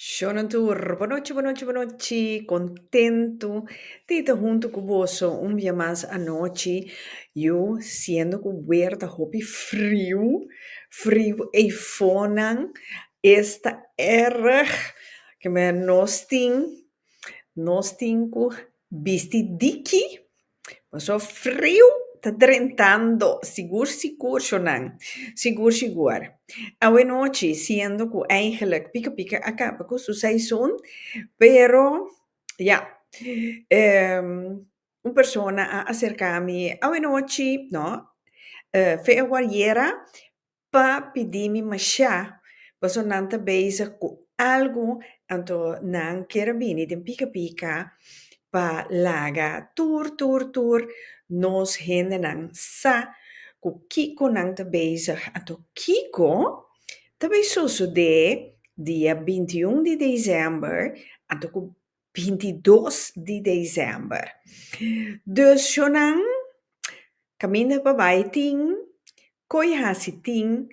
Shownan tur, bonochi, bonochi, bonochi, contento di ta hunto cu boso un bia mas anochi, yu siendo cu weer ta hopi friu, friu ey fonan, es ta erg, ke men nos tin, nos tin cu. Bisti diki? Paso friu ta drentando sigur sigur shonan, sigur sigur. Awe nochi siendo cu eigenlijk pika pika a caba cu su seizoen, pero ya, un persona a acercami, awe nochi, no, fe awor yera, pa pidi mi mashá paso nan ta bezig ku algu anto nan kier a bini den pika pika pa laga tur tur tur nos hendenan sa ku kiko nan ta bezig anto kiko ta bai sosodé dia binti un di desèmber anto ku bintidos di december. Dus shonan caminda pa bay tin coy haci tin,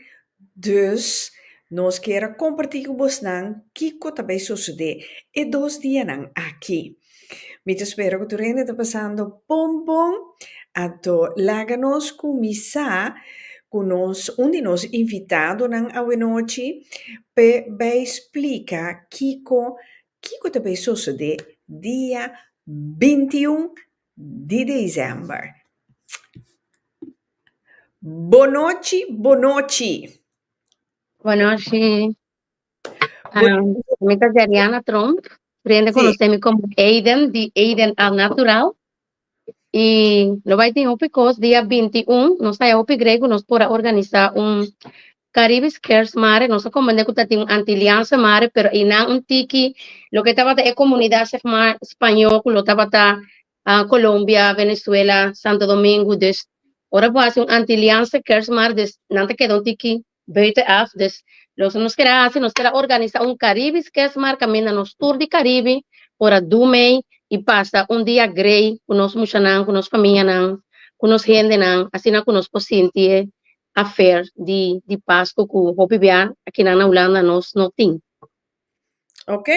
dus nos kier a comparti cu bosnan kico ta bay sosode e dos dianan aki. Mi ta spera cu tur hende ta pasando bon bon, ato laga nos cuminsa cu nos un di nos invitadonan awe nochi pe bay splica kico Kiko ta bay sosode dia binti un di desèmber? Bon nochi, bon nochi! Bon nochi! Mi ta Deriana Tromp, prende konosé mi komo Aiden di Aiden Al Natural. I no bay tin hopi kos, dia binti un nos ta haya hopi grei ku nos por a organisá un Caribes Cares Mare, nos a comprende cu ta tin un anti-liansa mare, pero eynan un tiki, loke tabata e comunidad zeg ma Spañó cu lo tabata Colombia, Venezuela, Santo Domingo, dus ora bo haci un anti-liansa Cares Mare dus nan ta keda un tiki buiten af, dus loke nos keda haci nos keda organisa un Caribes Cares Mare caminda nos tur di Caribe por a du mei y pasa un dia grei cu nos mushanan, cu nos famianan, cu nos hendenan, asina cu nos por sinti e afer di di Pasco cu hopi bia akinan na Hulanda nos no tin. Ok.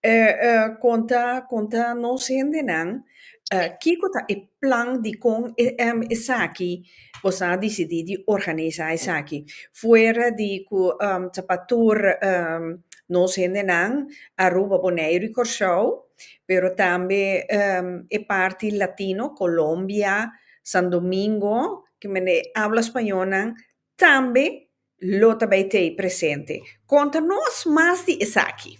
Eh, eh, conta, conta nos hendenan, eh, kico ta e plan dicon e, em, esaki boso a dicidi di organisa esaki? Fuera di cu, em, ta pa tur, em, nos hendenan, Aruba, Boneiru y Corsow, pero tambe, em, e parti Latino, Colombia, San Domingo, kimen e habla spañolnan tambe lo ta bai tei presente. Konta nos mas di esaki.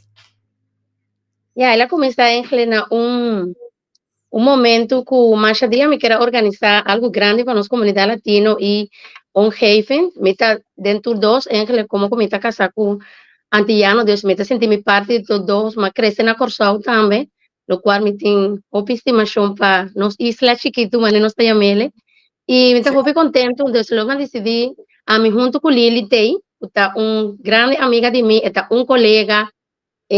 Ya, el a kuminsá Engle na un un momentu ku masha dia mi kere organisá algu grandi pa nos komunidat latino i omgeving. Mi ta den tur dos Engle komo ku mi ta kasá ku antiyano, dus mi ta sinti mi parti di tur dos. Mi a krese na Kòrsou tambe, lokual mi tin hopi estimashon pa nos isla chikitu manera nos ta yama el'e i mi ta hopi kontentu desde lo nan disidí ami huntu ku Lily Day ku ta un grandi amiga di mi e ta un kolega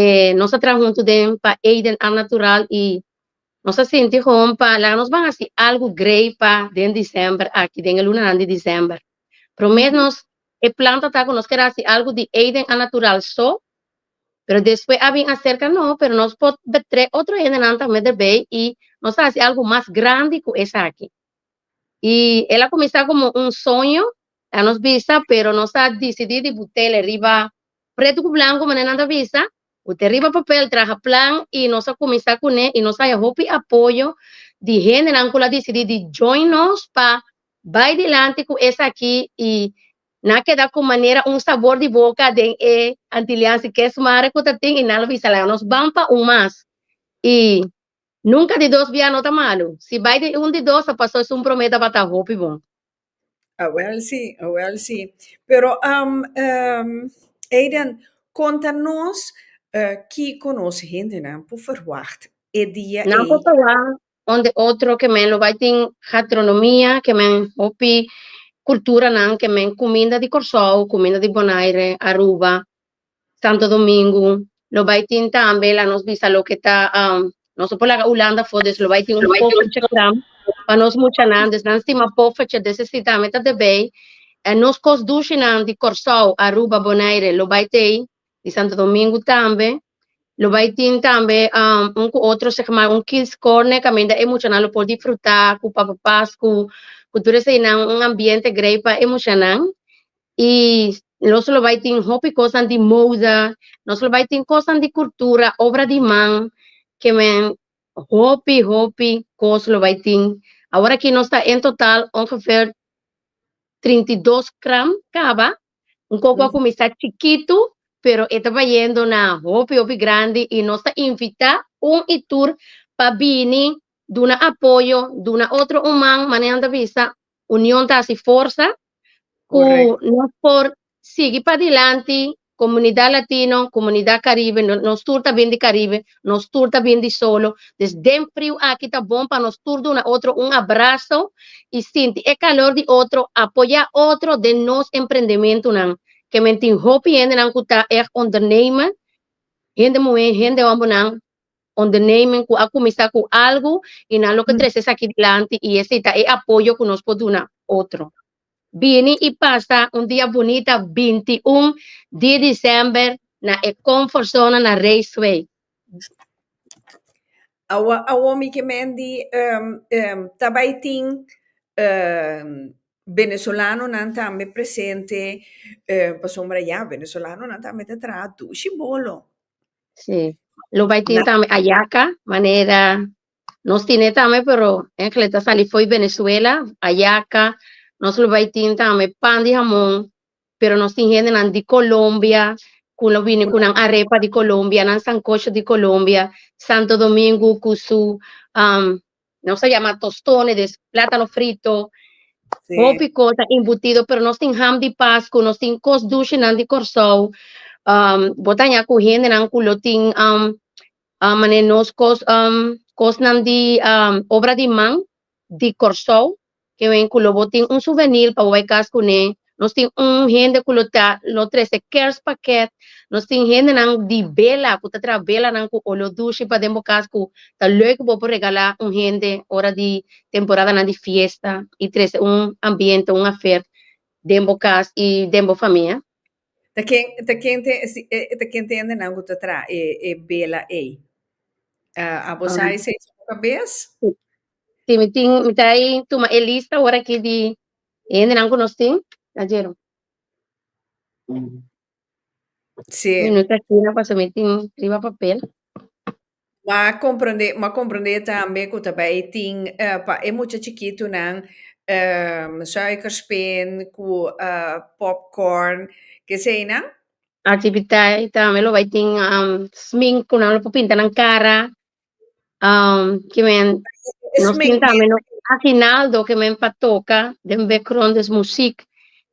e nos a traha huntu den pa Eden Ar Natural i nos a sinti hopi pa laga nos ban hasi algu grei pa den December aki den e lunanan di December promé nos e plan ta ku nos keda hasi algu di Eden Ar Natural so pero despues a bin aserka no, pero nos por betrek otro hendenan ta mester bay y nos ta haci algo mas grandi cu esaki. Y el a cuminsa como un soño a nos bisa, pero nos a dicidi di butele riba preto cu blanco manera nan ta bisa, bute riba papel, traha plan y nos a cuminsa cune y nos haya hopi apoyo di hendenan cu lo a dicidi di join nos pa bay dilanti cu esaki y Nan keda ku manera un sabor di boka den e antiliansi kesmare ku ta tin i nan lo bisa laga nos ban pa un mas. I nunka di dos biaha no ta malu. Si bai den un di dos a pasó esun promé tabata hopi bon. Awel si, awel si. Pero am ehm Aiden kon ta nos kiko nos hendenan por verwacht e dia ei. Nan por verwacht Onde otro ke men lo bai tin gatronomia, ke men hopi kulturanan, ke men kuminda di Kòrsou, kuminda di Bonaire, Aruba, Santo Domingu. Lo bai tin tambe, la nos bisa loke ta, nos no por laga Ulanda for des lo bai tin un poffertje gran pa nos muchanan, des nan stima poffertje, des e si tambe ta debei. Nos kos dushinan di Kòrsou, Aruba, Bonaire lo bai t'ei Di Santo Domingo tambe lo bai tin tambe um, un ku otro segmar un kidscorner kaminda e muchanan lo por disfruta ku papa pasku ku tur eseinan un ambiente grei pa e muchanan i nos lo bai tin hopi kosnan di moda nos lo bai tin kosnan di kultura obra di man ke men hopi hopi kos lo bai tin awor aki nos ta en total ongeveer trinta i dos kram kaba Un koko a kuminsá chikitu, pero e ta bayendo na hopi hopi grandi i nos ta invitá un i tur pa bini duna apoyo, duna otro un man, manera nan ta bisa union ta hasi forsa ku nos por sigui padilanti, komunidat latino, komunidat karibe, nos tur ta bin di karibe, Nos tur ta bin di solo. Dus den friu aki ta bon pa nos tur duna otro un abraso i sinti e kalor di otro. Apoyá otro den nos emprendementunan. Kemen tin hopi hendenan ku ta ègt ondernemer, hende muhé, hende hòmbernan, ondernemer ku a kuminsá ku algu i nan lo ke trese esaki dilanti i esei ta e apoyo ku nos por duna otro. Bini i pasa un dia bunita binti un di disember na e Comfortzone na Raceway. Awa awo mi ke mendi ta bai tin Venezolanonan tambe presente pasobra ya Venezolanonan tambe ta traha dushi bolo. Si, lo bai tin tambe ayaca, manera Nos tine tambe pero engle ta sali foi Venezuela, ayaka nos lo bai tin tambe pan di hamon, pero nos tin hendenan di Colombia cu lo bini cu nan arepa di Colombia, nan sancocho di Colombia, Santo Domingo cu su um, nos a yama tostones, plátano frito, Sí. hopi cosa embutido, pero nos tin ham di Pascu, nos tin cos dulcenan di Corsou, um, botaña cu hendenan cu lo tin um, Um manera nos cos um cosnan di um obra di man di Kòrsou ke wen ku lo bo tin un suvenir pa bo bai kas kuné. Nos tin un hende ku lo ta lo trese kèrspakèt, nos tin hendenan di bela ku ta traha belanan ku olor dushi paden bo kas ku ta lei ku bo por regalá un hende ora di temporadanan di fiesta i trese un ambiente, un afèr den bo kas i den bo famia. Ta ken ta ken te si e ta ken te hende nan ku ta traha e e bela ei? Ah, abo sa esei so bo kabes? Si mi tin, mi ta i tuma e lista awor aki di e hendenan ku nos tin, Rogero? Si. Mi no ta kina pasobra mi tin riba papel. Ma comprende, ma comprende tambe cu ta bay tin pa e mucha chikitunan suikerspin cu popcorn, ke es eynan? Activiteiten tambe lo bay tin smink cu nan lo por pinta nan cara, ke men nos tin tambe nos aguinaldo ke men pa toca, den background es muziek,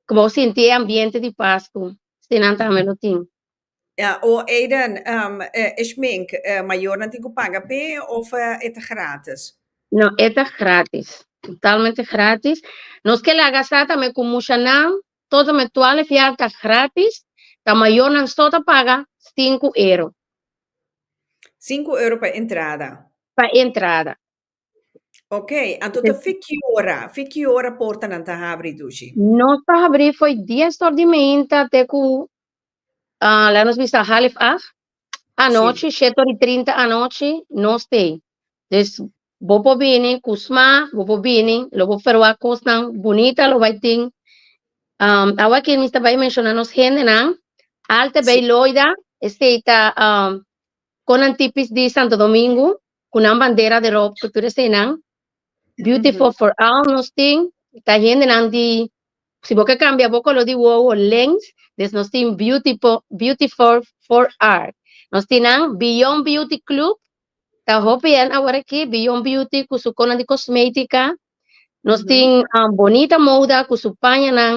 cu bo sinti e ambiente di Pascu, esnan tambe lo tin. Ya, o Aiden, ehm, e e schmink, eh, mayornan tin cu paga p'e of eh, e ta gratis? No, e ta gratis. Totalmente gratis. Nos ke laga sa tambe cu mushanan, tot en met twaalf jaar ta gratis, ta mayornan so ta paga sinku euro Sinku euro pa entrada. pa entrada. Ok, anto ta fi ki ora? Fi ki ora portanan ta habri, Dushi? Nos ta habri fo'i dies tor di meinta te cu Ah, laat ons bisa half acht anochi, siete ori trinta anochi, no stay. Dus, bo por bini ku sma, bo por bini, lo bo ferwa kosnan bunita lo bai tin. Um, awa ki mista bai menciona nos hendenan, Alte Bay Loida, este ta um, konan tipis di Santo Domingo, cu nan bandera derop cu tur esenan beautiful for all nos tin ta hendenan di si bo ke cambia bo color di wowo lens des nos tin beautiful beautiful for art nos tin nan beyond beauty club ta hopi hen awor aki beyond beauty cu su conan di cosmetica nos tin bonita moda cu su pañanan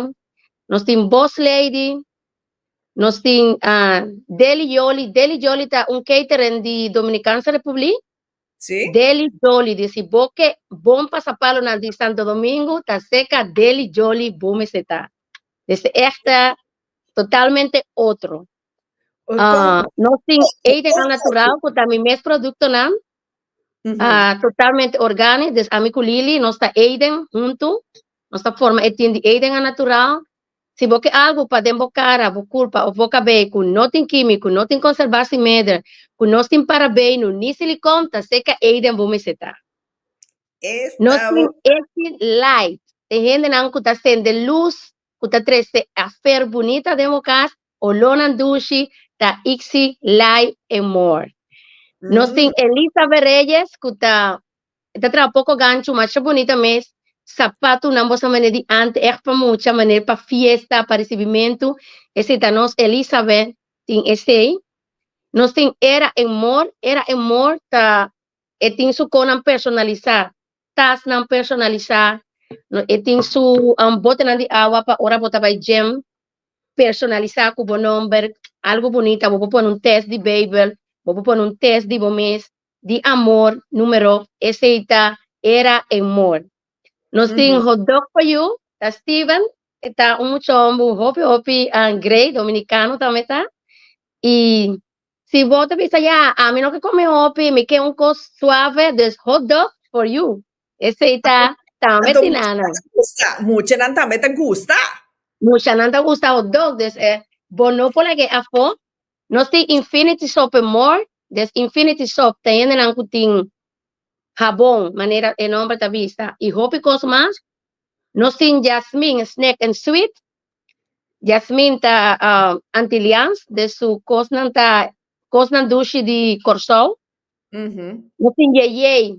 nos tin boss lady Nos tin Deli Jolly. Deli Jolly ta un catering di Dominikanse Republik. Si. Deli Jolly di si bo ke bon pasapalonan di Santo Domingo ta seka Deli Jolly bo mester ta. This echte totalmente otro. Nos tin Eden Al Natural ku ta mi mes produktonan. Ah, totalmente organic. Dus ami ku Lili nos ta Eden huntu. Nos ta forma e tin di Eden a natural. Si bo ke algu pa den bo kara, bo kulpa of bo kabei ku no tin kímiko, no tin konserbasi meder, ku nos tin parabeinu ni silikon, ta seka Eden bo mester ta. Nos tin Esi Light, te hendenan ku ta sende lus, ku ta trese afer bunita den bo kas, Olornan dushi ta Ixi Lai en more. Nos tin Elizabeth Reyes cu ta e ta traha poco gancho masha bunita mes. Sapatunan boso maner di ante echt pa mucha maner pa fiesta pa ricibimentu esey ta nos Elizabeth tin esey. Nos tin Era en more, Era en more ta e tin su conan personalisa, tasnan personalisa, e tin su botenan di awa pa ora bo ta bay gym. personalisa ku bo nomber, algu bunita, bo por pone un test di Beibel, bo por pone un test di bo mes, di amor, numero, esei ta Era en Mor. Nos tin mhm. hotdog for you, ta Steven, e ta un mucha hombre, un hopi hopi um, grey, dominicano también ta. Y si bo ta bisa, ya, a mi no ke come hopi, mi ke un kos suave, dus hotdog for you. Esei ta tambe tin Ana. Muchanan tambe ta gusta. Muchanan ta gusta hot dog, des e bo no por lag'e afo. Nos tin Infinity Soap en More, des Infinity Soap ta hendenan ku tin habon, manera e nomber ta bista, i hopi kos mas. Nos tin Jasmine Snack en Sweet, Jasmine ta Antilians, des su kosnan ta kosnan dushi di Kòrsou. Nos tin Yeyey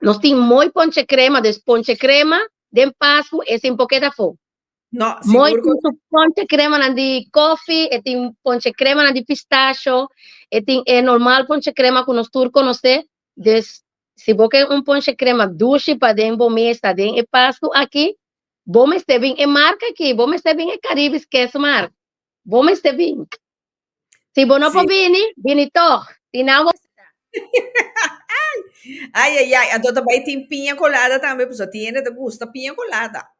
Nos tin mooi ponche crema, dus ponche crema den pascu e sin poket afo. No, mooi tin su ponche crema nan di koffie, e tin ponche crema nan di pistachio, e tin e normal ponche crema cu nos tur conoce. Dus si bo ken un ponche crema dushi pa den bo mesa den e pascu aki, bo mester bin e marca aki, bo mester bin e Caribbe's Keesmarkt, bo mester bin. Si bo no por bini, bini toch. Si nan bo... Ay, ay, ay. Anto ta bai tin piña colada tambe, pues ti hende ta gusta piña colada.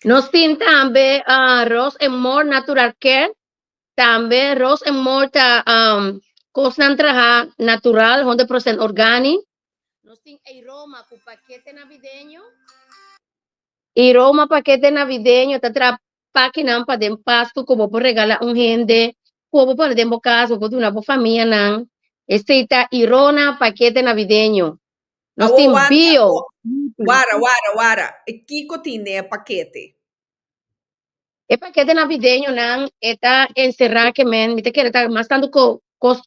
Nos tin tambe ah, Ros en Mor Natural Care. Tambe Ros en Mor ta um, cos nan traha natural, 100% organi. Nos tin Aroma cu paquete navideño. Aroma paquete navideño ta traha pakinan pa den pastu ku bo por regala un hende ku bo pone den bo kas, bo por duna bo famianan. Esei ta Irona Pakete Navideño. Nos tin bio. Wara, wara, wara. E kiko tin den e pakete? E pakete navideñonan e ta enserá ke men, mi ta kere ta mas tantu ko, kos,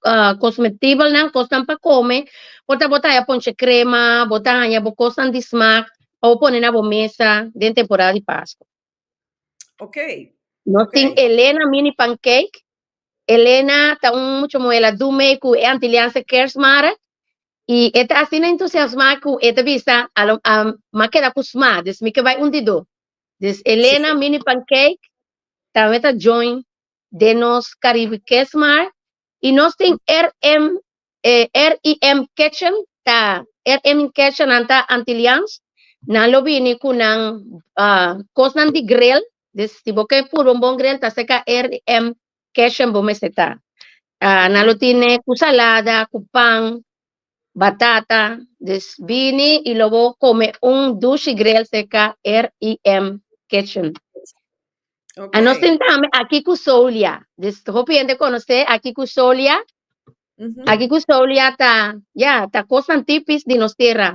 kosmetibelnan, kosnan pa kome, por ta bo ta haña ponche krema, bo ta haña bo kosnan di smak pa bo pone na bo mesa den temporada di Paskua. Ok. No tin Elena mini pancake. Elena ta un mucho muela dume ku e antilianse kersmara. I e ta asina entusiasma ku e ta bisa a, a ma keda ku sma, dus mi ke bai un di do. Dus Elena sí. mini pancake ta meta join de nos Caribe Kersmar i nos tin RM e RIM Kitchen ta RIM Kitchen nan ta Antilliaans nan lo bini ku nan uh kosnan di gril dus si bo ke purba un bon gril ta ser ka RIM Kitchen bo mester ta uh nan lo tine ku salada ku pan batata dus bini i lo bo kome un dushi gril ser ka RIM Kitchen. Okay. Ano sentame aki ku Solia. Dis hopi hende konosé aki ku Solia. Mm -hmm. Aki ku Solia ta, ya, ta kosnan tipis di nos tera.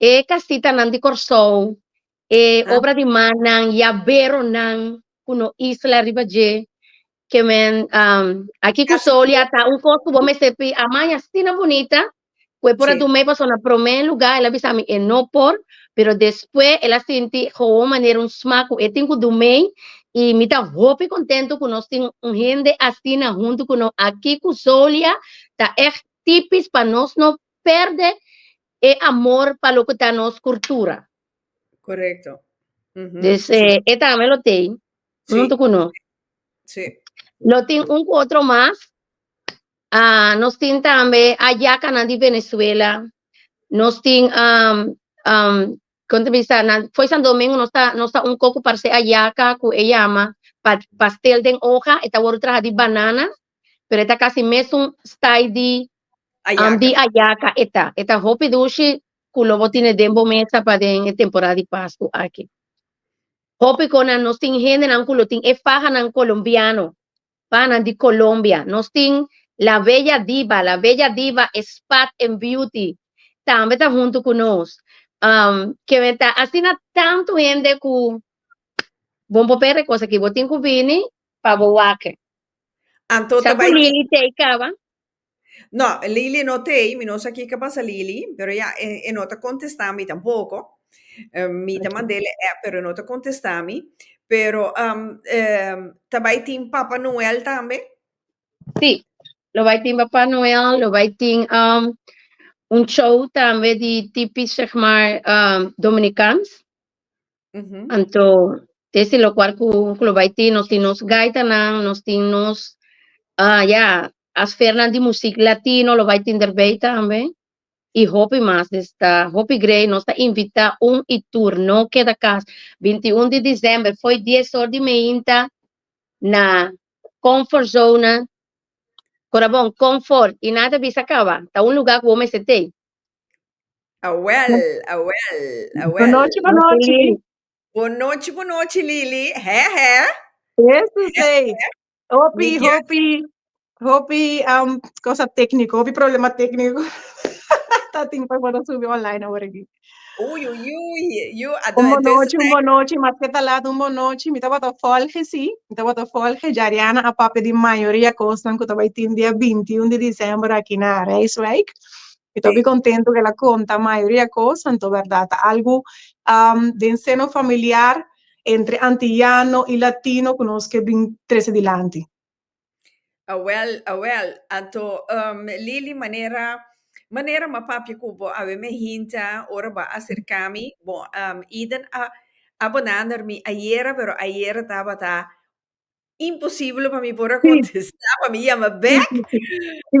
E kasita nan di Kòrsou, e ah. obra di mannan, yabero nan, ku no isla riba je. Ke men, um, aki ku Solia ta un kos ku bo mester pi amaña sina bonita. cu e por a duma e paso na prome luga el a bisa mi e no por pero despues el a sinti hoon manera un sma cu e tin cu dumey y mi ta hopi contento cu nos tin un hende asina hunto cu no aki cu Zolia ta echt tipis pa nos no perde e amor pa loke ta nos curtura. Correcto. Mm -hmm. Dus eh, e tame lo tei sí. hunto cu no. Sí. Lo tin un cu otro mas. Ah, nos tin tambe ayacanan di Venezuela. Nos tin, um, um, con te bisa, na, foi San Domingo nos ta, nos ta un coco parce ayaca cu e llama pa, pastel den hoja, e ta wordo traha di banana, pero e ta casi mesun style di, um, di Ayaca. ayaca e ta. E ta hopi dushi cu lo bo tine den bo mesa pa den e temporada di Pascu aki. Hopi conan nos tin hendenan cu lo tin e fahanan colombiano. Panan di Colombia. Nos tin La Bella Diva. La Bella Diva e Spat en Beauty tambe ta hunto cu nos. Um, que me ta asina tanto hende cu bon por pere cos aki. Bo tin cu bini pa bo wake. Anto Sa ta cu bai Lily Tay caba. No, Lily no ta ei, mi no sa kiko pasa Lily, pero ya e e no ta contesta mi tampoco, eh, mi ta manda el e app pero e no ta contesta mi, pero am eh ta bay tin Papa Noel tambe? Sí, lo bai tin Papá Noel, lo bai tin um, un show tambe di tipis, zeg maar, um, Dominicans. Ujú. Anto, es tin lokual ku ku lo bai tin, nos tin nos gaitanan, nos tin nos ah ya, asfernan di musik latino lo bai tin derbei tambe, i hopi mas. Des ta hopi grei, nos ta invitá un i tur, no keda kas. Bintiún di desèmber fo'i dies or di meinta na Comfort Zona, Corabon, Comfort, i nan ta bisa kaba, ta un lugá ku bo mester t'ei. Awèl, awèl, awèl. Bonochi, bonochi. Bonochi, bonochi, Lili. Hè, hè. Ese sei. Hopi, hopi, hopi um, cosa técnico, hopi problema técnico. Tatin pa para subi online ahora aquí. Uy, uy, uy. Yo, un bonochi, un bonochi, mas que talat un bonochi. Mi tabata volge, sí. Mi tabata volge. Jariana a papia di mayoría cosnan que tabay tin dia 21 de diciembre aquí na Rijswijk. Mi ta hopi kontentu ku el a konta mayoria kos, anto bèrdat ta algu den seno familiar entre antiyano i latino ku nos ke bin trese dilanti. Awèl, awèl, anto Lili manera manera ma papia ku bo a weme hinta ora bo a aserká mi, bon Eden a a bonander mi ayera pero ayera tabata imposible pa mi por a contesta pa mi yama back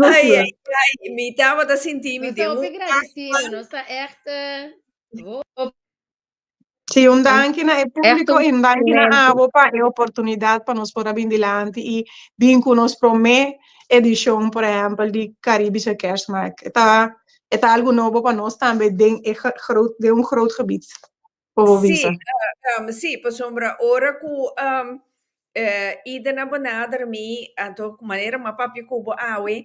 ay ay ay mi tabata sinti mi den un afan. Sí, un danki na e públiko i un danki na abo pa e oportunidat pa nos por a bin dilanti i bin ku nos promé edishon por ehèmpel di Karibische Kerstmarkt. E ta e ta algu nobo pa nos tambe den e den un groot gebied. Bobo bisa. Sí, um, sí, pasobra ora ku um, eh, ida na benader mi, anto manera ma papi kubo awe,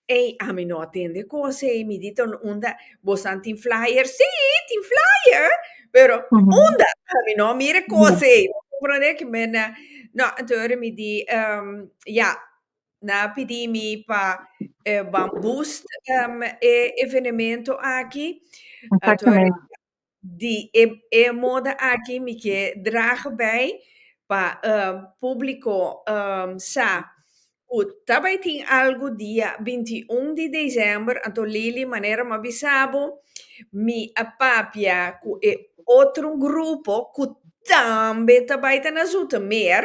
ei, a mi no atende kos, ei, mi dito unda, bosan tin flyer, sí, tin flyer, pero mm -hmm. unda, a mi no mire kos, ei, mm -hmm. comprende que me na, no, anto ora mi di, um, ja, na pidi mi pa eh, boost um, e evenemento aki, anto ora, Di e e moda aki mi ke draga bai pa publico sa cu ta bai tin algo dia binti i un di december, anto Lili manera m'ha bisa bo mi a papia cu e otro grupo cu tambe ta bai ta na Zoetermeer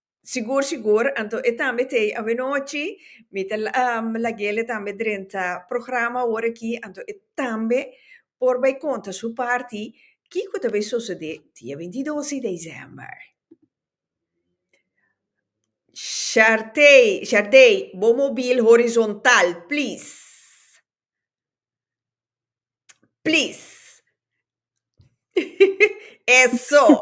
Sigur sigur, anto e tambe ta ei awenochi, mi ta laguele tambe drenta programa awor aki, anto e tambe por bai konta su parti kiko ta bai sosode dia bintidos di desèmber. Shartey, Shartey, bo mobil horizontal, please, please, eso.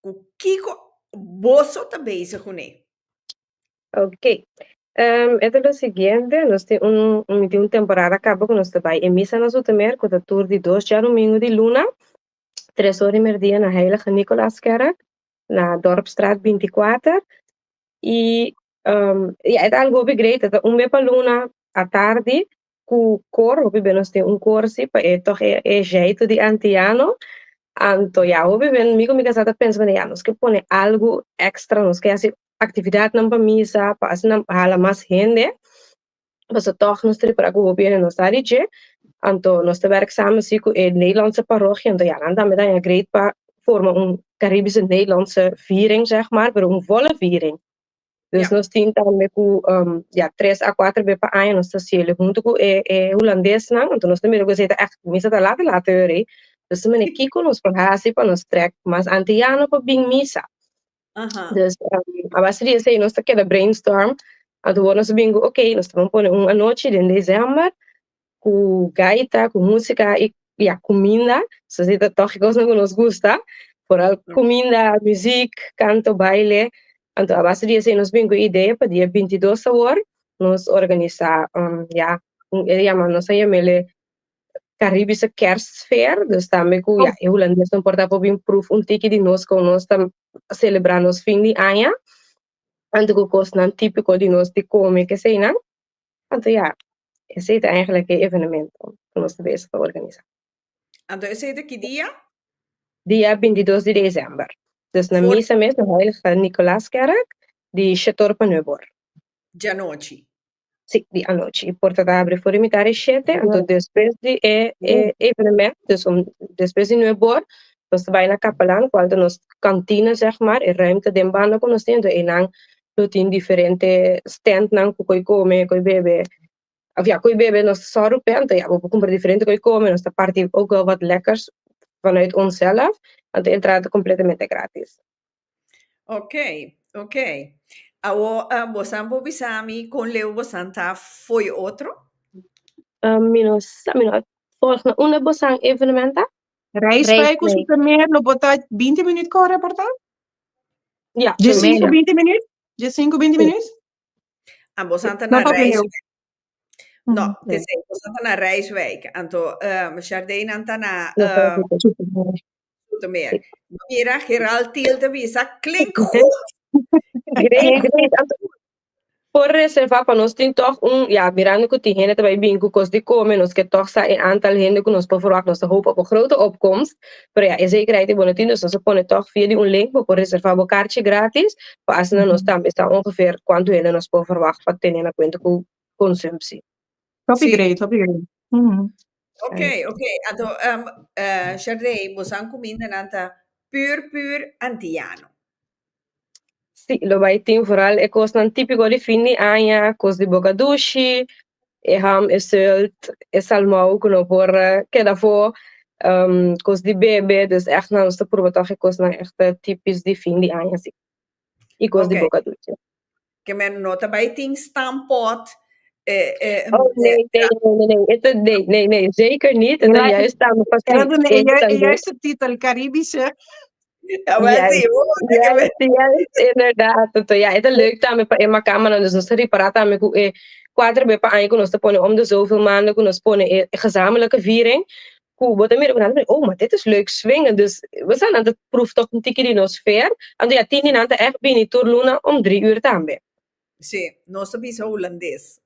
cu kico boso ta bezig cu ne? Ok. Um, e ta lo siguiente, nos tin un, mi tin un temporada cabo cu nos ta bay e misa na Zoetermeer, cu ta tur di dos djadomingo di luna, tres ora di merdia na Heilige Nicolaaskerk, na Dorpstraat binticuater. Y, um, ya, e ta algo hopi great, e ta un be pa luna atardi, ku kor hopi bes nos tin un kor si pa e tòg e jèitu di antiano anto ya hopi bes mi ku mi kasá ta pensa kuné ya nos ke pone algu èkstra nos ke hasi aktividatnan pa misa pa asina hala mas hende pasobra tòg nos ta rikorda ku hopi hende no sa di dje anto nos ta wèrk sama si ku e Nederlòndse parochia anto ya nan tambe ta haña greet pa forma un karibische Nederlòndse viering sègmàr pero un volle viering. Dus yeah. nos tin tambe ku um, ya tres a cuatro be pa año nos ta cielo junto ku e, e holandés nan, anto nos tambe gozeta echt misa ta late late hori. Dus mene kiko nos por hasi pa nos trek mas ante ya no pa bin misa. Uh -huh. Dus um, a base di sei nos ta keda brainstorm, anto nos bingo, ok, nos ta pone un anoche den december, cu gaita cu musica y ya cuminda so si ta tochi cosnan cu nos gusta foral cuminda music canto baile anto a base di esey nos bin cu e idea pa dia binti y dos awor nos organisa um ya un e yama nos a yamele caribische kerstfeer dus tambe cu ya e hulandeesnan por ta por bin proef un tiki di nos con nos ta celebra nos fin di aña anto cu cosnan tipico di nos di come keseynan. Anto ya, esei ta eigenlijk e evenemento ku nos ta bezig pa organisá. Anto esei ta ki dia? Dia bintidos di desèmber. Dus na For- misa mes na Heilige Nicolaaskerk di Shetor pa nuebe or. Djanochi. Sí, di anochi. E porta ta abri for di mitar di shete, anto despues di e, e evenement, dus om, despues di nuebe or, nos ta bai na Kapelan, ku alta nos kantina, zeg maar, e ruimte den banda ku nos tin, anto einan lo tin diferente standnan ku ko'i kome ko'i bebe òf ya ko'i bebe nos ta sòru p'e anto ya bo por kumpra diferente ko'i kome nos ta parti ook wel wat lekkers vanuit onsèl af anto entrada ta kompletamente gratis. Okey okey awo bosan por bisa mi kon leu bosan ta fo'i otro? Mi no sa mi no a volg na unda bosan evenementa. Rijswijk ku Zoetermeer lo por ta binti minuut kòrè por ta? Ya, Dje sinku, binti minüt? Dje sinku, binti minüt? A bosan ta na Nota opinion. Rijswijk. No, te sei, bosan ta na Rijswijk. Anto, ehm, Shardenan ta na, ehm, Zoetermeer. Mira, Gerald Thiel ta bisa, klink goed! Great, great. Anto, Por reserva pa nos tin tog un ya mirando cu tin hende ta bay bin cu cos di come nos ke tog sa e antal hende cu nos por verwag nos ta hopa op un grote opkomst pero ya e zekerheid e bo no tin nos nos a pone tog via di un link bo por reserva bo karchi gratis pa asina nos tambe sa ongeveer cuanto hende nos por verwag pa tene na cuenta cu consumsi. Hopi great hopi great. Ok ok anto Sharday bo sa un cuminda nan ta puur puur antillano. Sí, lo bai tin vooral e kosnan típiko di fin di aña, kos di boka dushi, e ham, e zult, e salmou ku no por keda afo, um kos di bebe, dus ègt nan nos ta pruba tòg e kosnan ègt típis di fin di aña, sí, i kos di boka dushi. Ke men no ta bai tin stampot e e Oh, nee, nee, nee, nee, nee. Eto, nee, nee, nee. Zeker niet. Eto Right. juist dan Era precies de één juist, sandes. juist de titel, Caribische. Ja, maar Juist, zie, oh, dat kan juist, juist, inderdaad. Eto, ja, eto leuk tambe pa Emma Kamaran. Dus nos ta repará tambe ku e kuater be pa aña ku nos ta pone om de zoveel maanden ku nos pone e gezamenlijke viering. ku bo ta mira ku nan ta biba oh ma det is leuk swing dus bo sa nan ta proef tok un tiki di nos feer anto ya tin di nan ta echt bini tur luna om dri ur tambe. Sí nos ta bisa hulandes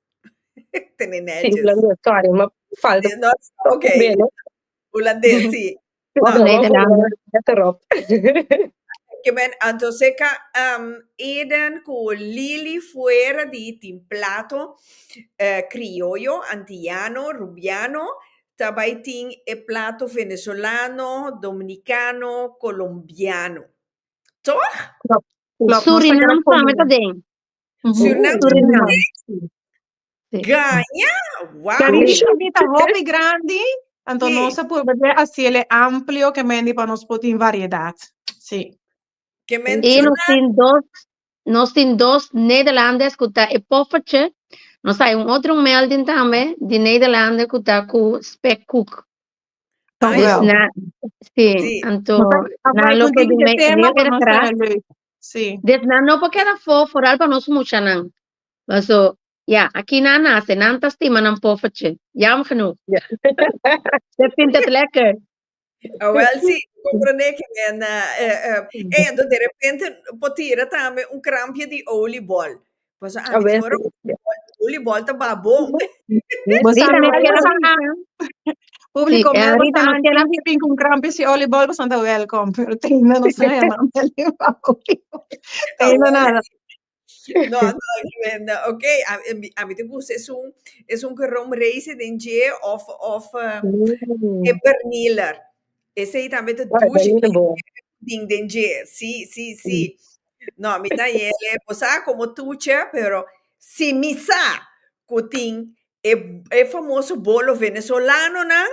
tene netjes. Sí hulandes sorry ma falta tok beno. Hulandes sí. Of Nederlander let erop. Oké men anto seka Eden ku Lily fuera di tin plato krioyo antiyano rubiano ta bai tin e plato venezolano, dominicano, colombiano. Toch? Surinam tambe ta den. Surinam Surinam. Gaña! Wow! Kan di Shirley ta hopi grandi, anto Sí. nos a purba di hasiele amplio kemendi pa nos por tin variedad. Sí. Que I nos mencionar tin dos, Nos tin dos Nederlandes cu ta e poffertje. Nos hay un otro melding tambe di Nederlander cu ta cu spekkoek. Dank u wel. Si, sí. anto nan lo ke di me heel erg graag. Sí. Des nan no por keda for, vooral pa nos muchanan. Paso, ja, aki nan nace, nan ta stima nan poffertje. Jammer genoeg. Yeah. Dat vindt het lekker. Awel si, comprende que me na... eh, eh, eh, ento de repente po tira tambe un krampje di olibol. Paso A antes veces, ora ja. olibol ta babon. Vos Rita, sabe, no Maria quiero- Santiago. Público, Sí, eh, mira, vos Rita, no sabe, quiero- antes pin con crampes y olibol, vos está welcome. Pero tengo, no sé, man. Tengo nada. No, no, no, ok, a, a mi- a mi te gusta es un, es un rom reizen den dje of, of eh, Mm. e berniler. Ese ahí también te Ah, douche Berliner bien bo. ding den dje, sí, sí, sí. No, mi ta yele, o sea, como tuche, pero si mi sa, kutin, e, e famoso bolo venezolano nan,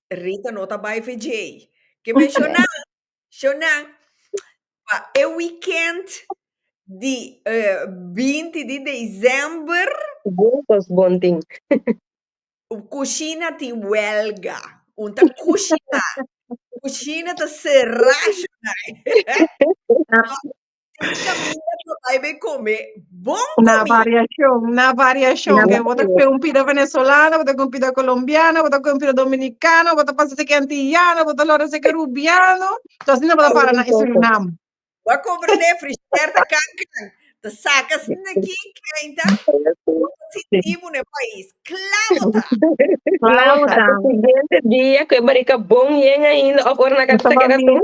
Rita no ta bai fe dje. Que menciona, Shona, pa e weekend di binti di december. Juntos bon tin. Cushina tin huelga. Un ta cushina. Cushina ta cera, shona. Camina ta bai be come bon comida. Na variacion, na variacion. Ke bo ta kue un pida venezolano, bo ta kue un pida colombiano, bo ta kue un pida dominicano, bo ta pasa seki antillano, bo ta lora seki rubiano. So asina bo ta para na e Surinam. Bo a compra na e frigider ta can can, ta saca asina ki kenta, bo ta sinti bo na e pais. Cla bo ta. Cla bo ta. Siguiente dia cu e barica bon yen ainda of ora nan cata ta keda tur.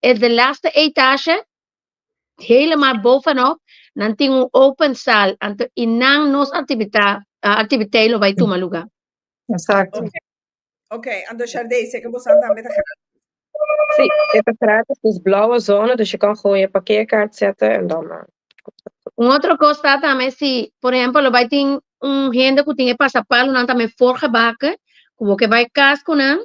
e de laatste etasje, helemaal bovenop, nan tin un open sal, anto i nan nos activita, ah, activiteit lo bai tuma luga. Exacto. Ok, anto Sharday, seke bosan tambe ta gratis. Sí, e ta gratis, dus blauwe zona, dus je kan gewoon je parkeerkaart zetten en dan... eh, Un otro cos ta tambe si, por ejemplo, lo bai tin un hende cu tin e pasapalo, nan tambe forgebake, cu bo ke bai cas cu nan,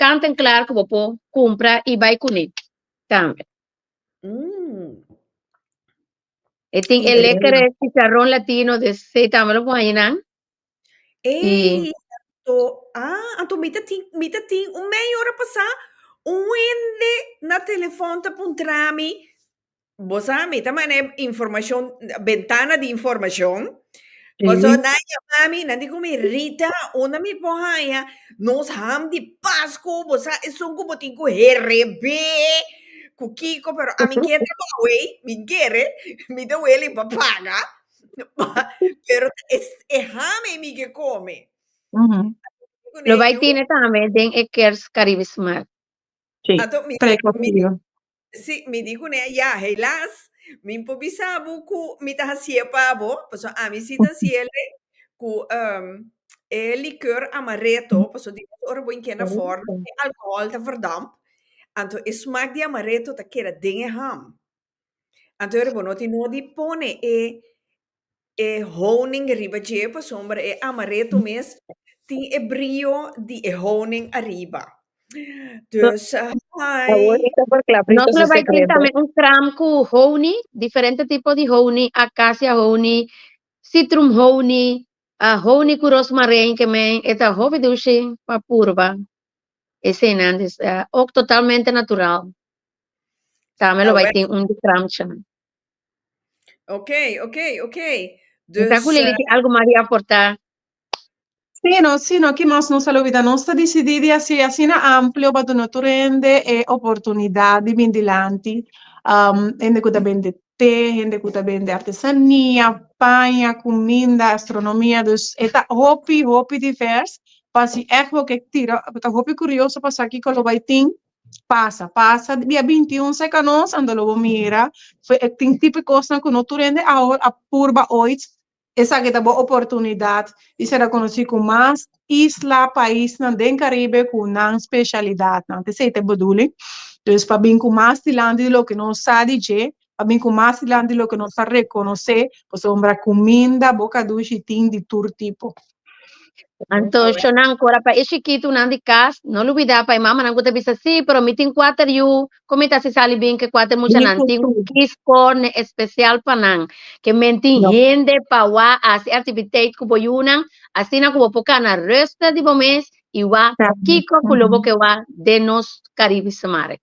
Kan tan klar ku bo por kumpra i bai kuné tambe. E tin e lekere chicharron latino de sey tambe lo por haña nan. Ey, anto, ah, anto mi ta tin, mi ta tin un meia ora pasá, un wende na telefòn ta puntrami bo sa mi ta manda e informacion, bentana di informacion. Sí. Paso nan llama mi, nan di con mi, Rita, una mi por haya nos ham di Pascu, bo sa esun cu bo tin cu herebe, cu kiko, pero a mi quiere trabajo, wey, mi quiere, mi ta weli pa paga, pa- pero es, e ham e mi que come. Ujú. Con Lo bai ello, tiene tambe den e Kers Caribe Smart. Sí, Ato, mi, tres mi, cocido. Si, mi di kuné, ya, helas, mi por bisa bo ku mi ta hasié pa bo, pasobra ami si ta hasié lei ku e likor amareto, pasobra di nos ora bo a keda for, e alkohòl ta verdamp, anto e smak di amareto ta keda den e ham. Anto ora bo no tin nodi pone e E honing riba dje, pasobra e amaretto mes tin e brio di e honing ariba. Dus, hi. Nos lo bai tin tambe un kraam ku honing, diferente tipo di honing, akasia honing, sitrum honing, honing ku rosmarein ke men e ta hopi dushi pa purba eseinan, dus e òk totalmente natural. Tambe lo bai tin un di kraamsha. Ok, ok, ok. Mira Dus, cu lele tin algo Maria aporta. Sí, no, sí, no, Kimos, nos a olvida, nos ta decidi di hacer asina amplio pa duna tur hende e oportunidad di bin dilanti. Um, hende cu ta bende te, hende cu ta bende artesania, paña, cuminda, astronomia, dus e ta hopi, hopi divers, pa si ecbo ke tira, ta hopi curioso pa sa kico lo bay tin, pasa pasa dia binti un sa e kanon sa anto lo bo mira fue e tin tipo e kosnan ku no tur hende awor a purba oits esaki ta bo oportunidat di ser rekonosí ku mas isla paisnan den Karibe ku nan speshalidatnan ta esei ta e beduling dus pa bin ku mas dilanti di loke nos sa di dje a bin cu mas dilanti loke nos a reconoce pasobra cuminda boca dushi tin di tur tipo. Antocionan, cora pa e chikitunan di cas, no lubida pa e mamanan cu ta bisa, Si, pero mi tin cuater yu, con mi ta si sali bin cu e cuater muchanan tin un kis corne especial pa nan, ke men tin hende pa wak a haci activiteit cu bo yunan, asina cu bo por cana ruster di bo mes y wak kiko cu lo bo ke wak den nos Caribisemarkt.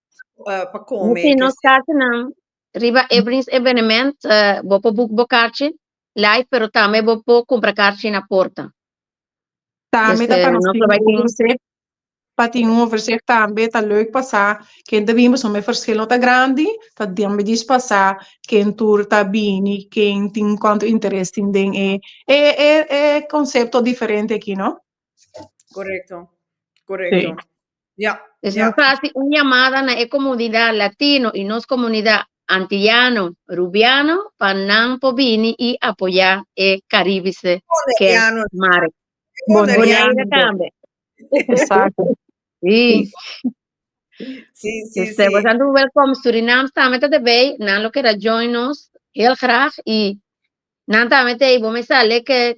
uh, pa come. Mete nos cartenan riba Evelyn's evenement, uh, bo por boek bo cartje live, pero tambe bo por compra cartje na porta. Tambe Dus, ta eh, pa nos nos tin lo bai un tin- overzicht. Pa tin un overzicht tambe ta leuk pasa ken ta bini pasobra mi verschil no ta grandi. Ta tambe dis pasa ken tur ta bini, ken tin cuanto interes tin den e e e e concepto diferente aki no. Correcto. Correcto. Sí. Yeah. Entonces, yeah. nos hace una llamada na e comunidad latino y nos comunidad antillano, rubiano, pa nan po bini y apoya e caribese que mare. Boneriano. tambe. Exacto. Sí. Sí, sí, dus, sí. Bosan doen welkom Suriname tambe te bay, nan lo kera join nos heel graag y nan tambe te bo me sale que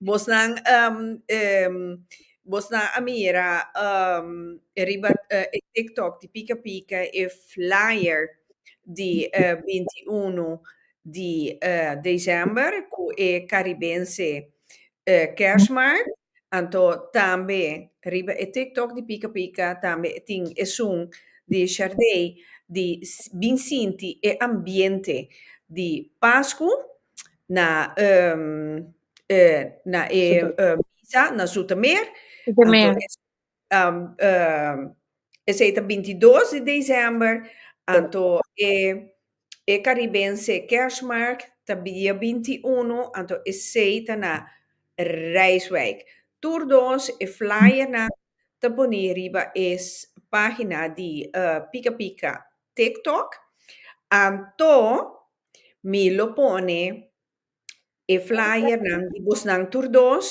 Bosnan bosnan a mira riba e TikTok di Pika Pika e flyer di binti i unu di desèmber ku e karibense kèrsmart. Anto tambe riba e TikTok di Pika Pika tambe tin esun di Sharday di bin sinti e ambiente di Pasku. na e e na e misa na Zoetermeer. Zoetermeer. Anto esei um, um, esei ta bintidos di december, anto e e Caribense kerstmarkt ta dia bintiuno, anto esei ta na Rijswijk. Tur dos e flyernan ta poni riba e pagina di e Pika Pika TikTok, anto Mi lo pone e flyernan di bosnan tur dos.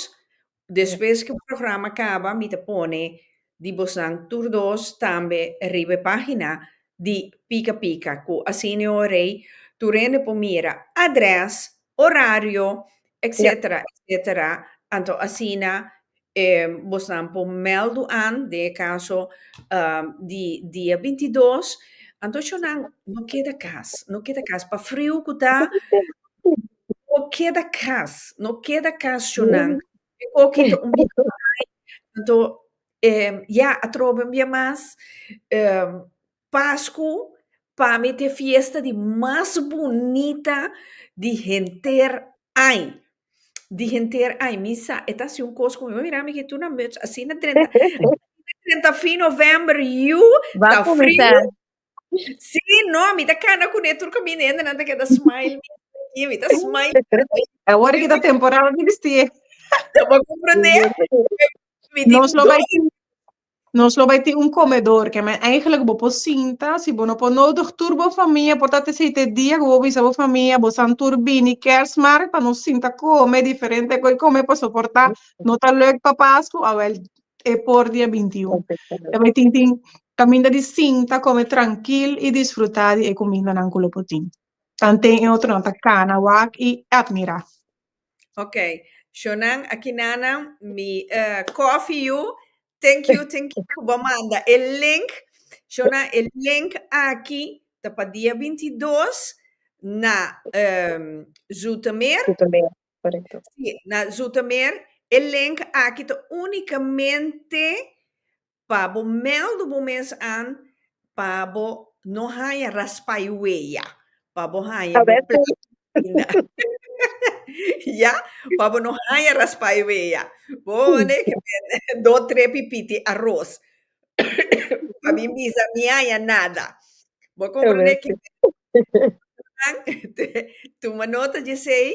Despues ku e programa kaba mi ta pone di bosnan tur dos tambe riba e pagina di Pika Pika, ku Arsenio Rey tur hende por mira, address, horario etcetera etcetera anto asina e bosnan por meldu an den e caso di dia binti dos anto cho nan no keda cas no keda cas pa friu cu ta no keda cas no keda cas cho nan e coki ta un biaha mai anto ya atrobe un biaha mas. Pascu pa mi t'e fiesta di mas bunita di henter ai. Di henter ai. Mi sa e ta hasi un cos cu mi, mami mira mi kitu na muts asina drenta, asina drenta fin november, yu ta friu, si no mi ta cana cu ne tur caminende nan ta keda smile mi aki, mi ta smile mi aki. E wor di ta temporada di bisti e. Bo comprende? Mi di. Nos lo bai. Nos lo bai tin un komedor ke men eigenlijk bo por sinta, si bo no por nodig tur bo famia por tat esei te dia ku bo bisa bo famia bo san tur bini Kèrsmaart pa nos sinta kome diferente ku e kome paso por ta no ta lèk pa Pasku awèl e por dia bintiun. Lo bai tin tin kaminda di sinta kome trankil i disfrutá di e kumindanan ku lo por tin. Tanten e otronan ta kana wak i atmirá. Ok, Shonan Akinana, mi uh, coffee you. Thank you, thank you. Bo manda el link. Shonan, el link aki ta pa dia 22 na um, Zoetermeer. Zoetermeer, correcto. Sí, na Zoetermeer. El link aki ta únicamente pa bo mèldu bo mes an pa bo no haña raspa e weya, pa bo haña bo plak ainda. Ya, pa bo no haña raspa e weya. Pone ke men do tre pipiti aros pa mi bisa mi haña nada. Bo komprende ke nan te tuma nota dje esei?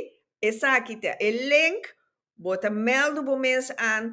Esaki ta e link, bo ta mèldu bo mes an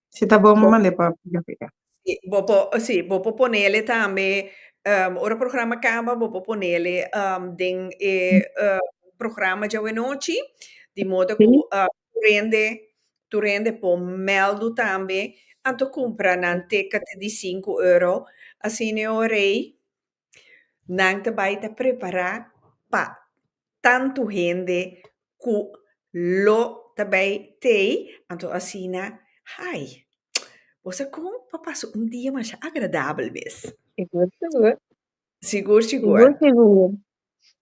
Si ta bon, bo manda e pa Africa. Sí, bo por, sí, bo por ponele tambe, um, ora programa kaba, bo por ponele um, den e uh, programa djawenouchi, di modo ku Sí. uh, tu rende, tu rende por mèldu tambe, anto kumpra nan te ka te di sinku euro, asina e orei, nan ta bai ta prepara pa tantu hende ku lo ta bai tei, anto asina hai bo sa kon pa pasa un dia masha agradabel mes. Sigur sigur. Sigur sigur. Sigur sigur.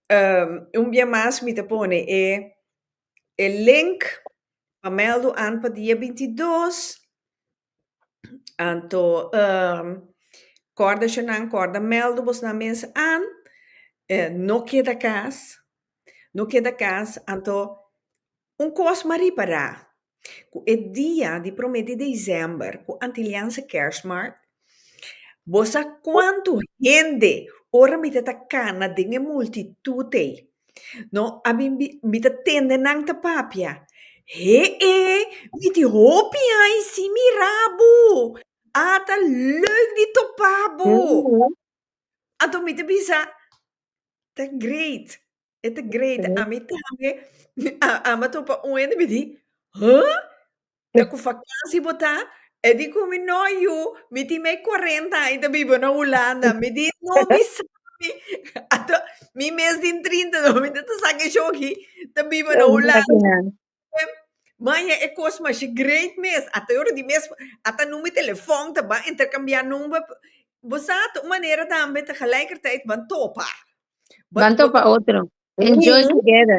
Um, un bia mas mi ta pone e e link pa mèldu an pa dia binti dos Anto kòrda shonnan, kòrda mèldu bosnan mes an e no keda kas, no keda kas, anto un kos ma ripará, ku e dia di promé di desèmber ku Antilianse Kèrsmaart, bosa kuantu hende ora mit'e ta kana den e multitut ei No, ami mi mi ta tende nan ta papia. Hee, mi tin hopi ai si mirabu. A ta leuk di topabu. Mm. Anto mi ta bisa, ta great, e ta great. Ami tambe, a, a mi a topa un hende, mi di, huh? Te cu vakansi bo ta? E di cu mi, No, yu, mi tin mei cuarenta aña ta biba na Hulanda. Mi di, No, mi sabi. Anto, mi mes den trinta no, mi ta ta saca e shoki ta biba na Hulanda. Maya, e cos masha great mes. Ata e ora di mes, ata number di telefon ta ban intercambia number. Bo sa, ta un manera tambe ta gelijkertijd ban topa. Ban topa otro. Enjoy together.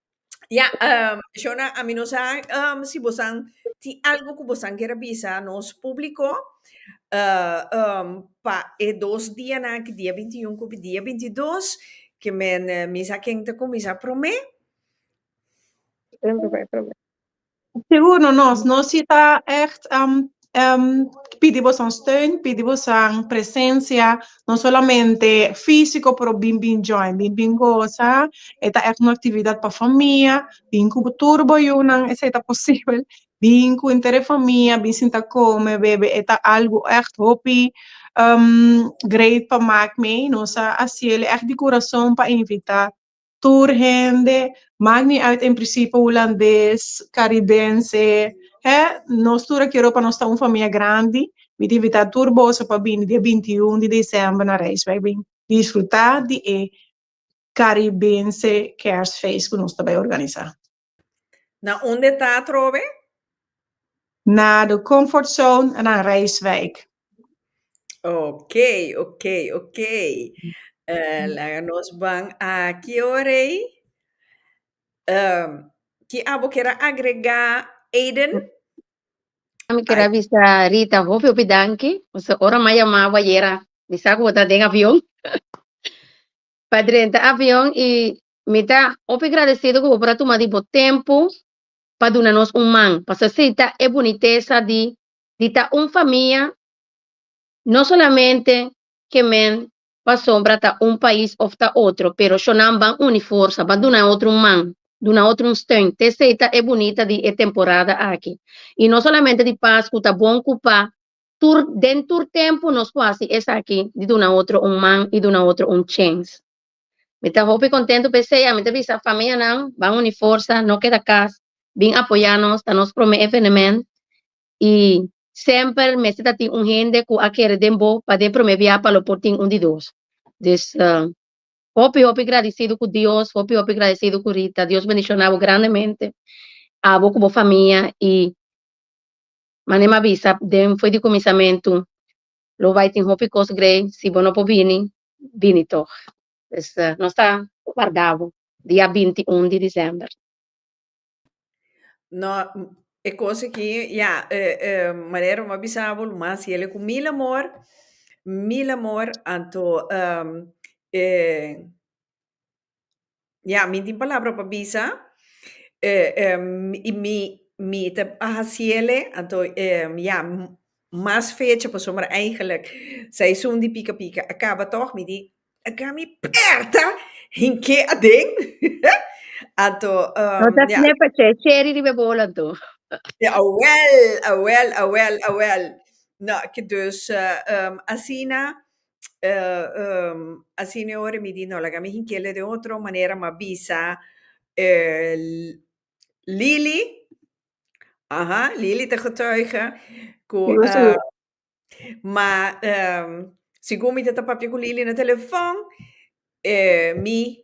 Ya, um, Shona, a mí no sa um, si bosan ti algo que bosan quiere bisa nos público uh, um, pa e dos día na que día 21 que día 22 que men eh, misa quien te comienza promé. Promé, promé. Sigur no nos, nos si ta echt pidi bosan steun, pidi bosan presencia, no solamente fisico pero bin bin join, bin bin goza, e ta echt un actividad pa famia, bin cu bo tur bo yunan esey ta posibel, bin cu henter e famia, bin sinta come, bebe, e ta algo echt hopi great pa mak mee, nos a haciel echt di curason pa invita. tur hende, mak ni uit en prisipe hulandes, karibense, hè, nos tur a kero pa nos ta un famia grandi. Mi ta invitá tur boso pa bini dia binti i un di desèmber na Rijswijk bin disfrutá di e karibense Kèrsfeest ku nos ta bai organisá. Na unde ta atrobe? Na de comfort zone en a reiswijk. Ok, ok, ok. Uh, laga nos ban aki o rei. Um, ki abo kera agrega Aiden? Mi quiero avisar Rita, hopi hopi danki. Ons ora ma llamaba yera, bisa ku ta den avion. pa drenta avion y mi ta hopi gradecido cu bo por a tuma di bo tempo pa duna nos un man, pa sasita e bunitesa di di ta un famia, no solamente ke men pasobra ta un pais of ta otro, pero sho nan ban uni forsa, ban duna e otro un man, duna e otro un steun, te esey ta e bunita di e temporada aki. Y no solamente di Pascu ta bon cu pa tur den tur tempu nos por hasi esaki di duna otro un man i duna otro un chens. Mi ta hopi kontentu p'esei a mi ta bisa famianan ban uni forsa no keda kas bin apoyá nos ta nos promé evenemènt i semper mester ta tin un hende ku a kere den bo pa den promé biaha pa lo por tin un di dos dus hopi hopi gradisidu ku Dios hopi hopi gradisidu ku Rita Dios bendishoná bo grandemente abo ku bo famia i. Mané m'a bisa, den fo'i di kuminsamentu, lo bai tin hopi kos grei, si bo no por bini, bini tòg. Pues, nos ta warda bo dia binti un di desèmber. No, e kos aki, ya, Marero, m'a bisa bo lo mas yele ku mil amor, mil amor, anto, e. Ya, mi tin palabra pa bisa, y mi mi ta hasi el'e, anto ya, mas fecha pasobra eigenlijk seizoen di pika pika a kaba tog, mi di, a ga mi pèrta hink'é aden, anto ya. cheri riba e bol anto. Awèl, awèl, awèl, awèl, na, ke dus asina Asina e ora mi di, No laga mi hinkele den otro manera, m'a bisa Lili, aha, Lili ta getuige cu ma segun mi ta ta papia cu Lili na telefon, mi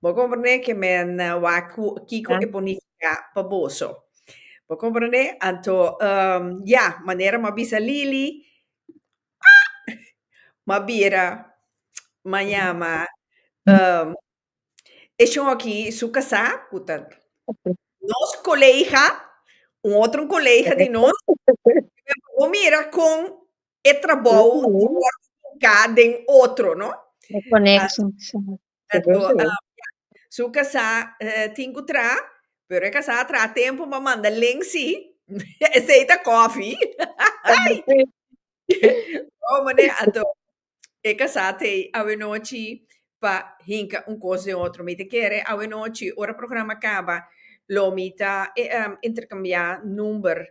Bo comprendé ke men wak ku kiko e por nifiká pa boso. Bo comprendé? Anto, ya, manera m'a bisa Lili, ah, m'a bira, m'a yama e shon aki su kasá, ku ta nos kolega, un otro kolega di nos, bo mira kon e trabou di por kuminika den otro, no? E konekshon, sa. Ato, ya. Su kasá tin ku tra, pero e kasá a traha tempu, bo a manda len si, esei ta kòfi. Bo manera ato, e kasá ta ei awenochi pa hinka un kos den otro. Mi ta kere awenochi, ora programa kaba, lo mi ta interkambiá number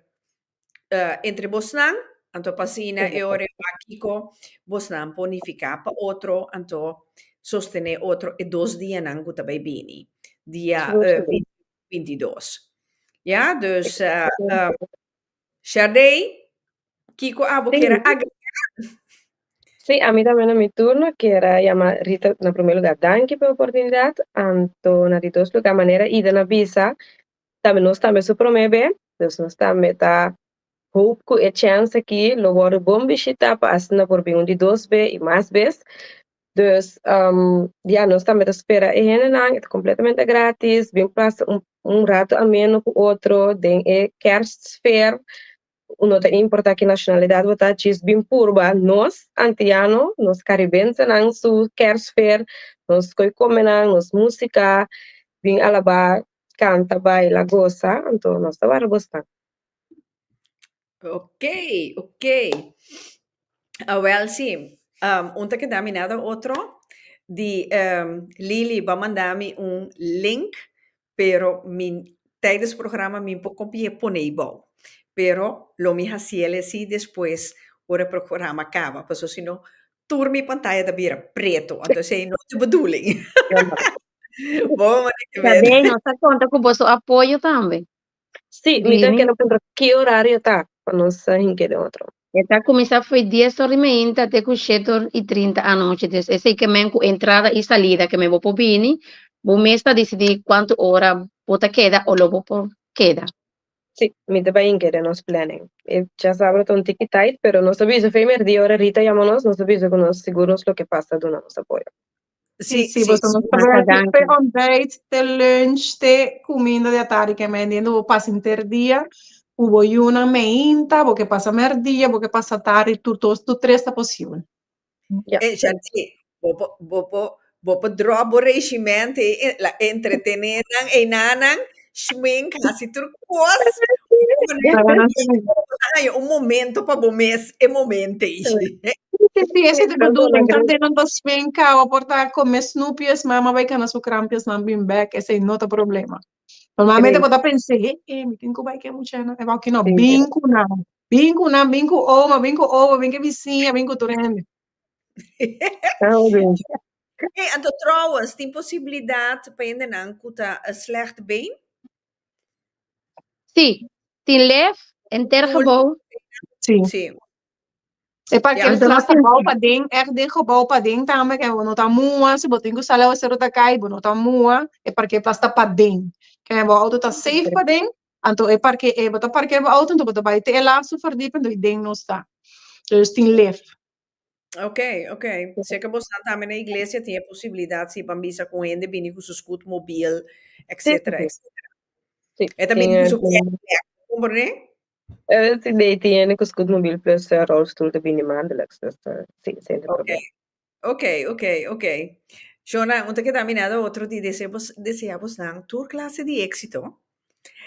entre bosnan, anto p'asina e ora e wak kiko bosnan por nifiká pa otro, anto sostené otro e dos dianan ku ta bai bini, dia binti dos. Ya, dus Sharday, kiko abo kier a agrega? Sí, ami tambe na mi turno kier a yama Rita, na promé lugá danki pa e oportunidat, anto na di dos lugá manera Ida na bisa, Tambe nos tambe su prome be, dus nos tambe ta hoop cu e chens aki lo wordo bon bishita pa asina por bin un di dos be y mas bes. Dus ya nos tambe ta spera e hendenan, e ta completamente gratis, bin pasa un un rato ameno cu otro den e kerstsfeer, no ta importa ki nacionalidad bo ta, djis bin purba nos Antiano, nos Caribensenan su kerstsfeer, nos coicomenan, nos musica, bin alaba Canta, baila, goza, anto nos ta wara bo staan. Ok, ok. Awel si, um, un ta kedami nada otro di um, Lily ba mandami un link, pero mi tijdens programa mi por compie ponei bou. Pero lo mi haciel e si despues ora programa caba, paso sino tur mi pantaya ta bira pretu ento esei no ta bedoeling. Bo mane ke mete. Tabé nos ta konta ku boso apoyo tambe. Sí, mi ta kere puntra ki orario ta pa nos ta hink'é den otro. E ta kuminsá fo'i dies or di meinta te ku shete or i trinta anochi, des esei ke men ku entrada i salida ke men bo por bini, bo mes ta disidí kuantu ora bo ta keda o lo bo por keda. Sí, mi te bai hinke den nos planning. E ya sabra ta un tiki tight, pero nos ta bisa femer di ora Rita yama nos, nos ta bisa ku nos sigur nos lo ke pas ta duna nos apoyo. Sí, sí, bo ta nos Massa ready danki. te ontbijt, te lunch, te kuminda di atardi ke men dien di bo pasa henter dia ku bo yunan meinta, bo ke pasa merdia, bo ke pasa tardi, tur dos, tur tres ta posibel. Ya. E Shanti, bo por bo por bo por drop bo regiment ei e la entretene nan einan nan, schmink, hasi tur kos, haña un momento pa bo mes e momento ei. Si, si, esei ta bedoeling, tambe nan ta schminka, bo por ta kume snoepjes, mama bai kana su krampjesnan bin bek, esei no ta problema. Normalmente bo ta pensa, he, he, mi tin ku bai ke muchanan, e wou kino, bin ku nan, bin ku nan, bin ku oma, bin ku oba, bin ke bisiña, bin ku tur hende. He, anto trouwens, tin posibilidat pa hendenan ku ta slecht been? Sí, tin lef, enter gebou. Sí. E pa Di kere alto tras ta lapensa. bou paden, èk den gebou paden tambe, kei bo no ta mua, si bo tin ku sal awaseru ta kai, bo no ta mua, e parkeerplas ta paden. Kei bo outo ta seif paden, anto e parke e bo ta parkeer bo outo, anto bo ta bai te e lastu fardipio, anto ei den no sta. Dus tin lef. Ok, ok. Sea ke bo sa tambe na iglesia tin e posibilidat si ban bisa ku hende bini ku su scoot mobiel, etsetera, etsetera. Si, E ta tin bini ku su e. kèk, kèk. Bo komprendé? Eh, si lei tiene ku scoot mobiel plus eh, rolstoel ta bini maandelijks, dus eh, si, sin Oké, probleem. oké, oké, oké. Shona, un ta keda minado otro di desea bos, desea bos nan tur klase di éksito.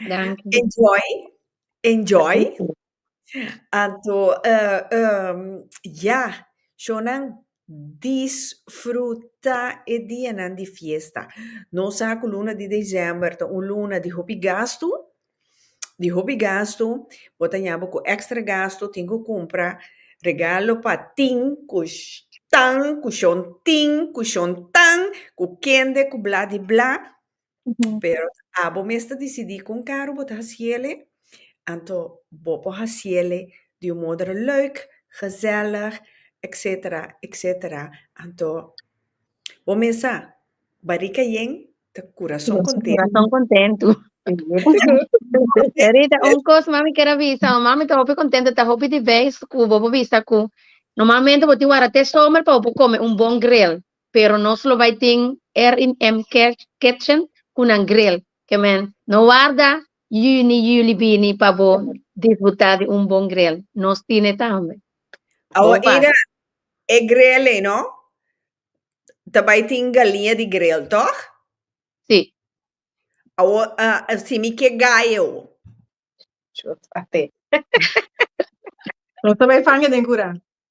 Danki. Enjoy, enjoy. Anto, eh, ehm, ya, Shonan, Disfruta e dianan di fiesta. Nos sa cu luna di december ta un luna di hopi gastu, di hopi gastu. Bo ta yama cu extra gastu, tin cu cumpra regalo pa tin cu tan, cu shon tin, cu shon tan, cu kende, cu bla di bla. pero a bo mes ta decidi con caro bo ta haciele, anto bo por haciele di un modere leuk, gezellig, etcetera, etcetera, anto bo mes sa barica yen ta curason contento. Corazón contento. Rita, un cos mami quier a bisa, mami ta hopi contento, ta hopi di vez cu bo por bisa cu normalmente bo tin wara te somer pa bo por come un bon grill, Pero nos lo bai tin R&M Kitchen cu nan grill. Ke men no warda juni, juli bini pa bo disbuta di un bon grill. Nos tine tambe. Bo pasa. E grill ei no ta bai tin galiña di grill, toch? Si. Awor si mi ke gallo. Nos ta bai fanga den cura.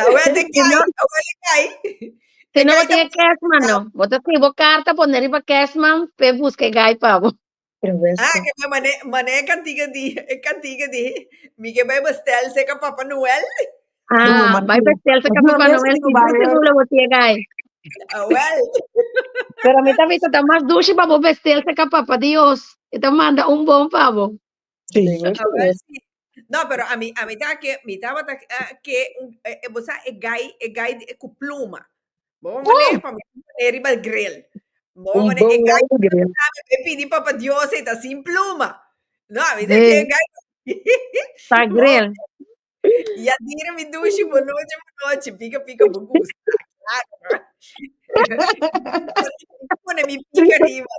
Awete kaya, awete kaya. Si no bo tin e cashman no. Bo ta scribi bo carta pone riba cashman pe busca e gai pa bo. Ah, que me mane, mane e cantiga di, e cantiga di. Mi que bai bestel seca Papa Noel. Ah, bai bestel seca Papa Noel. Si bo tin nula bo tin e gai. Awel. Pero mi ta bisa ta mas dushi pa bo bestel seca Papa Dios. E ta manda un bon pa bo. No pero ami ami ta ke mi tabata ke un e bo sa e gai e gai ku pluma bo bo mane pa mi pone riba el gril bo bo mane e gai e pidi papa dios e ta sin pluma no ami ta ke e gai ya dira mi dushi bo nochi bo nochi pika pika bo gusta claro pone mi pika riba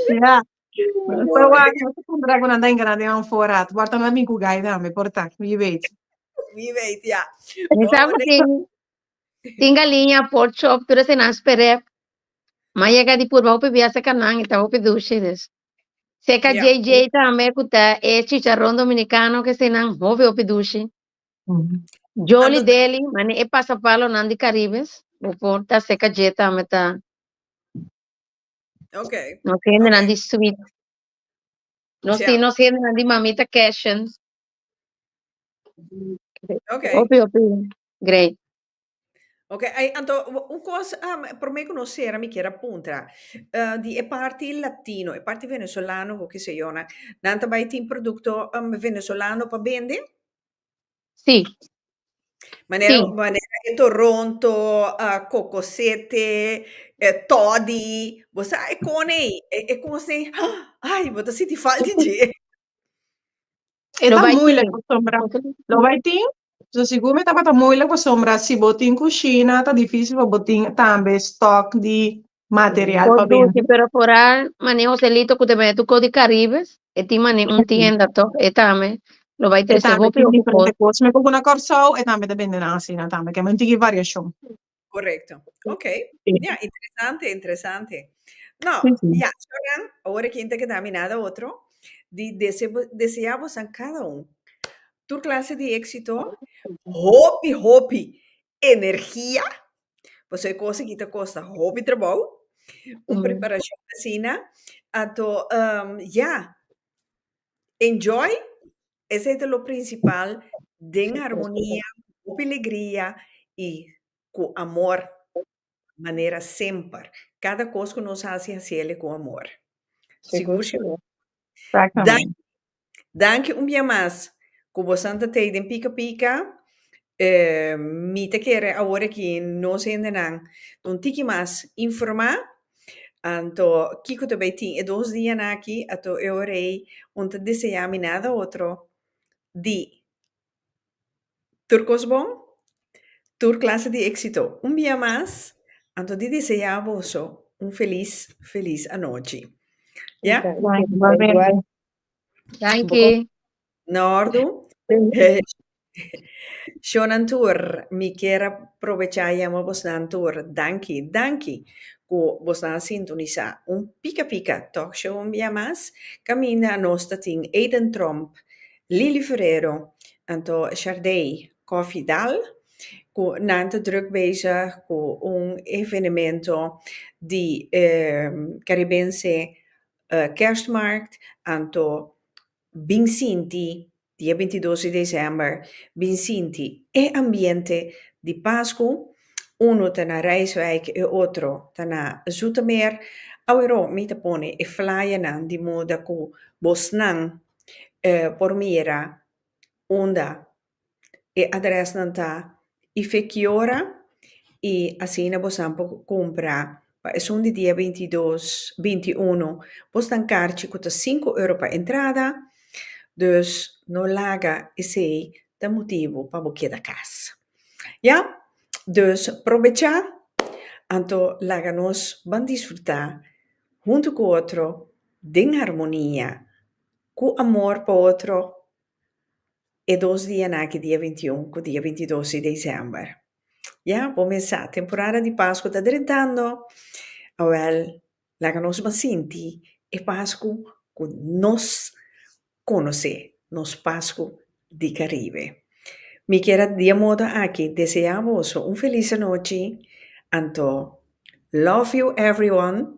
Ya. So Mooi. wak, no te pondrá ku nan ta enganá den an for rat. Bòrta no a bin ku gai tambe, por ta, wie weet. Wie weet, ja. Mi sa ku tin, tin galiña, pork chop, tur esei nan sperep. M'a yega di purba hopi biaha seka nan i ta hopi dushi. Dus, seka Ja. JJ tambe ku ta e chicharon dominikano ku esei nan hopi hopi dushi. Jolly Ando- Deli, mane e pasapalonan di Caribes, bo por ta seka dje tambe ta. Okay. Nos okay. hendenan di sweet. Nos, yeah. nos hendenan di mamita cashen. Okay. Opi, opi. Great. Ok, anto un cosa um, ah, por me conocer, mi quiero apuntar, uh, eh, di e parte latino, e parte venezolano, o que se yo, na, nanta bai tin producto um, venezolano pa vende? Sí. Manera, sí. manera e toronto, uh, cocosete, eh, toddy, bo sa e cone, e, e cose, ay, bo ta siti falta je. E lo vai moeilijk voor sombra. Lo vai tin. So sigur me tabata moeilijk voor sombra. Si bo tin cucina, ta difícil voor bo tin tambe stock di material pa bende. pero por ahí mane Joselito cu te bai tu co di Caribes, e tin mane un tienda toch, e tambe lo bai trece bo pio cu cos. Cos me cucu na Corsou e tambe ta bende nan asina tambe, ke me un tiki variacion. Correcto, ok, ya, interesante, interesante. No, ya, so nan, ora kin ta keda mi nada otro di dese desea bosan cada un tur clase di exito, hopi, hopi energia, Paso e cosa aki ta costa hopi trabou, un preparacion asina, anto ya, enjoy, esai ta lo principal, den harmonia, hopi legria y cu amor, manera semper, cada cos cu nos haci, haciele cu amor. Sigur, Shilomar? Daño, Danki un bia mas ku bosan ta tei den pika pika. Mi ta kere awor aki nos hendenan ta un tiki mas informá. Anto kiko ta bai tin e dos dianan aki ato e ora ei un ta deseá mi nada otro di tur kos bon, tur klase di éksito un bia mas anto di deseá boso un felis felis anochi. Ya. Danki. Na ordu. Shonan tur, mi kier a probecha yama bosnan tur danki, danki ku bosnan a sintonisá un pika pika Tòk Show un bia mas. Kaminda nos ta tin Aiden Tromp, Lili Ferrero, anto Shardei Kòfidal ku nan ta drùk bezig ku un evenemento di Karibense Kerstmarkt, anto bin sinti di e bintidos di december, bin sinti e ambiente di Pascu, uno ta na Rijswijk e otro ta na Zoetermeer, awero mi ta pone e flyernan di moda cu bosnan por mira unda E adrèsnan ta Ifekiora i asina bosan por kumpra pa esun di dia binti dos binti i uno. Bos ta karchi ku ta sinku euro pa entrada, dus no laga esei ta motibu pa bo keda kas. Ya, dus probechá, anto laga nos ban disfrutá huntu ku otro den harmonia, ku amor pa otro. e dos dia na aki dia binti un ku dia binti dos di desèmber. Ya bo mesa, temporada di Pasku ta drentando. Awèl, laga nos ban sinti e Pasku ku nos konosé, nos Pasku di Karibe. Mi kier a di e moda aki deseá boso un felis anochi. Anto, love you everyone.